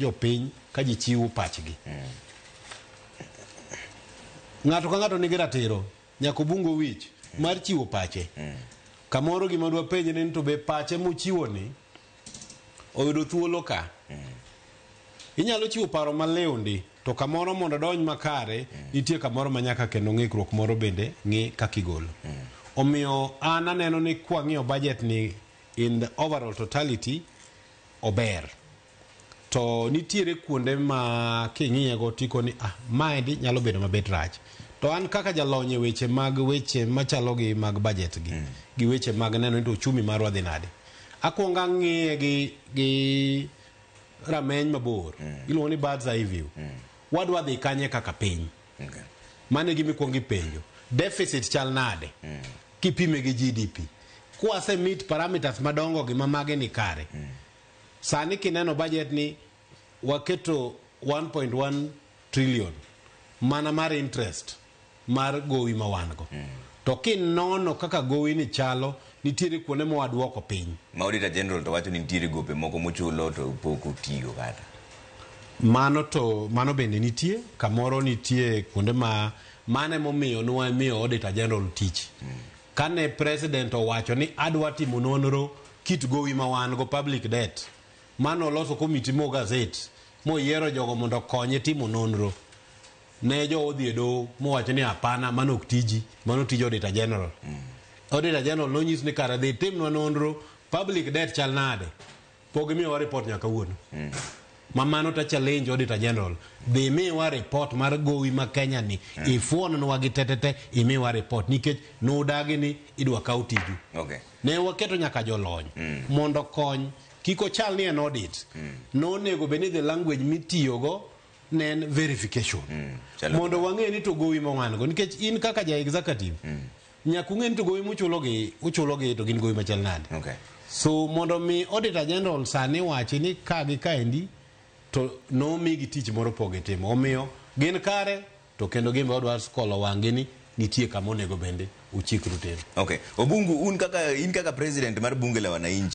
jopiny ka ji chiwo pachgi. Ng'ato ka ng'ato nigi ratiro nyaka obungo wich mar chiwo pache. Kamoro gima dwa penj ni to be pache mochiwo ni oyudo thuolo ka. Inyalo chiwo paro maliw ndi to kamoro mondo odonj makare nitie kamoro ma nyaka kendo ng'ikruok moro bende ng'i kaka igolo. Omiyo an aneno ni kwang'iyo budget ni in the overall totality ober. to nitiere kuonde ma king'iyego tiko ni ah, maendi nyalo bedo mabet rach to an kaka jalony e weche mag weche machalo gi mag budget gi gi weche mag neno ni to uchumi marwa dhi nade akwongo ang'iye gi, gi rameny mabor iluongo ni birds eye view wadwa dhi kanye kaka piny Okay. mano e gima ikwongo ipenjo deficit chal nade kipime gi gdp kwase meet parameters madongo gi ma mage ni kare Sani kineno budget ni waketo 1.1 trillion mana mar interest mar gowi ma wan go. To kinono kaka gowi ni chalo nitiere kuonde ma waduoko piny. Ma Auditor General to wacho ni nitiere gope moko mochulo to pok otigo kata. Mano to mano bende nitie kamoro nitie kuonde ma mano emomiyo nwa miyo Auditor General tich. Kane president owacho ni adwa timo nonro kit gowi ma wan go, public debt, mane oloso committee mo gazet moyiero jogo mondo okonye timo nonro, ne jowa odhi e doho mowacho ni hapana, mano ok tiji, mano tij Auditor General. Auditor General nonyis ni kare dhi timnwa nonro, public debt chal nade? Pok gimiyowa report nyaka kawuono. Ma mano ta challenge Auditor General. Dhi miwa report mar gowi ma Kenya ni. Ifuonwa gi tetete imiwa report nikech nudagi ni idwa kaw tiju. Okay. Ne waketo nyaka jolony mondo okony kik ochal ni en audit. Nonego bed ni the language mitiyogo ne en verification. Chalo- Mondo wang'e ni to gowi ma wan go nikech in kaka ja executive Nyaka ung'e ni to gowi muchulogi, uchulogi to gin gowi machal nade. Okay. So mondo mi Auditor General sani wachi ni ka gi kaendi to nomigi tich moro poge timo. Omiyo gin kare to kendo gin be odwa skolo wang'gi ni nitie kama onego bende uchikru tero. Okay. Obungu un kaka in kaka president mar bunge la wananchi